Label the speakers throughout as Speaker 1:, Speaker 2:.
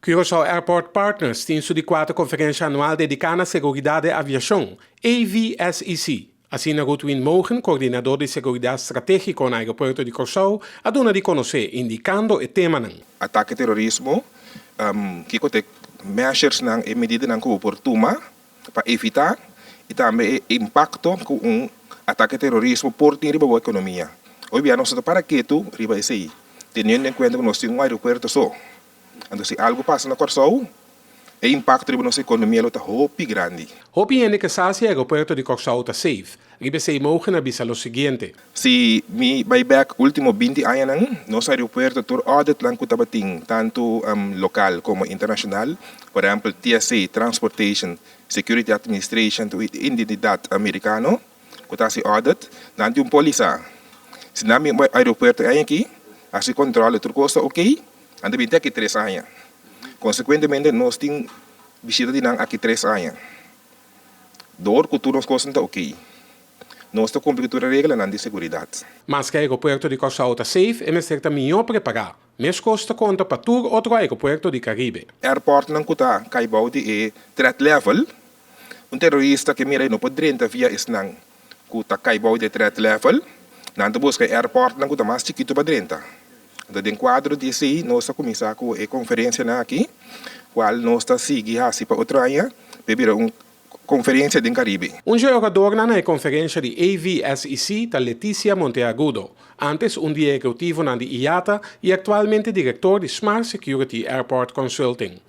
Speaker 1: Curaçao Airport Partners tin su di kuater konferensha anual dediká na seguridat di aviashon, AVSEC. Asina Ruud Win Mogen, koordinador di seguridat stratégiko na Aeropuerto di Kòrsou, a duna di konosé, indikando e temanan. Atake terorismo,
Speaker 2: Kiko ta e measuresnan, e medidanan ku bo por tuma pa evitá i tambe e impakto ku un atake terorismo por tin riba bo ekonomia. Oy bia nos no ta para ketu riba esei, teniendo en kuenta ku nos tin un aeropuerto so. Anto si algu pasa na Kòrsou, e impakto riba nos ekonomia lo ta hopi grandi. Hopi hende ke sa
Speaker 1: si e aeropuerto di Kòrsou ta safe. Riba esei mogen a bisa lo siguiente. Si mi
Speaker 2: bai bek ultimo binti añanan, nos aeropuerto tur auditnan ku tabatin, tantu lokal komo internashonal, por ehèmpel TSA, Transportation Security Administration, tu identidat amerikano, ku ta hasi audit, nan tin un pólisa. Si nan bin bai aeropuerto e aña aki, hasi kòntròl, tur kos ta oke, nan ta bin te aki tres aña. Konsekuentemente nos tin bishita di nan aki tres aña. Dor ku tur nos kosnan ta okey, nos ta kumpli ku tur e reglanan di seguridat. Maske aeropuerto
Speaker 1: di Kòrsou ta safe, e mester ta mihó prepará. Meskos ta konta pa tur otro aeropuerto di Karibe. Airportnan ku ta
Speaker 2: kai bou di e threat level, un terorista ke mira e no por drenta via esnan. ku ta kai bou di e threat level, nan ta buska e airportnan ku ta mas chikitu pa drenta. Enton den kuadro di esei nos a kuminsá ku e konferensianan aki, kual nos ta sigui hasi pa otro aña, pa e bira un konferensia den Karibe. Un jogadornan na e
Speaker 1: konferensia di AVSEC ta Leticia Monteagudo, antes un di e ekutivonan di IATA i aktualmente direktor di Smart Security Airport Consulting.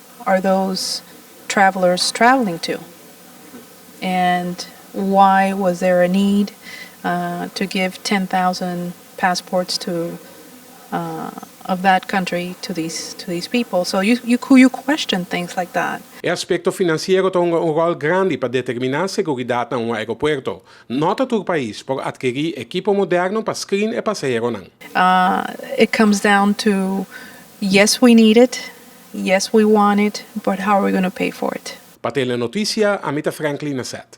Speaker 3: Are those travelers traveling to and why was there a need to give ten thousand passports to of that country to these people so you question things like that. E aspekto finansiero
Speaker 1: ta hunga un ròl grandi pa determiná seguridat na un aeropuerto. Nò ta tur pais por atkerí ekipo moderno pa screen e pasaheronan.
Speaker 3: It comes down to yes we need it. Yes we want
Speaker 1: it
Speaker 3: but how are we
Speaker 1: gonna
Speaker 3: pay for it. Pa tene notisia, ami ta Franklin Nasset.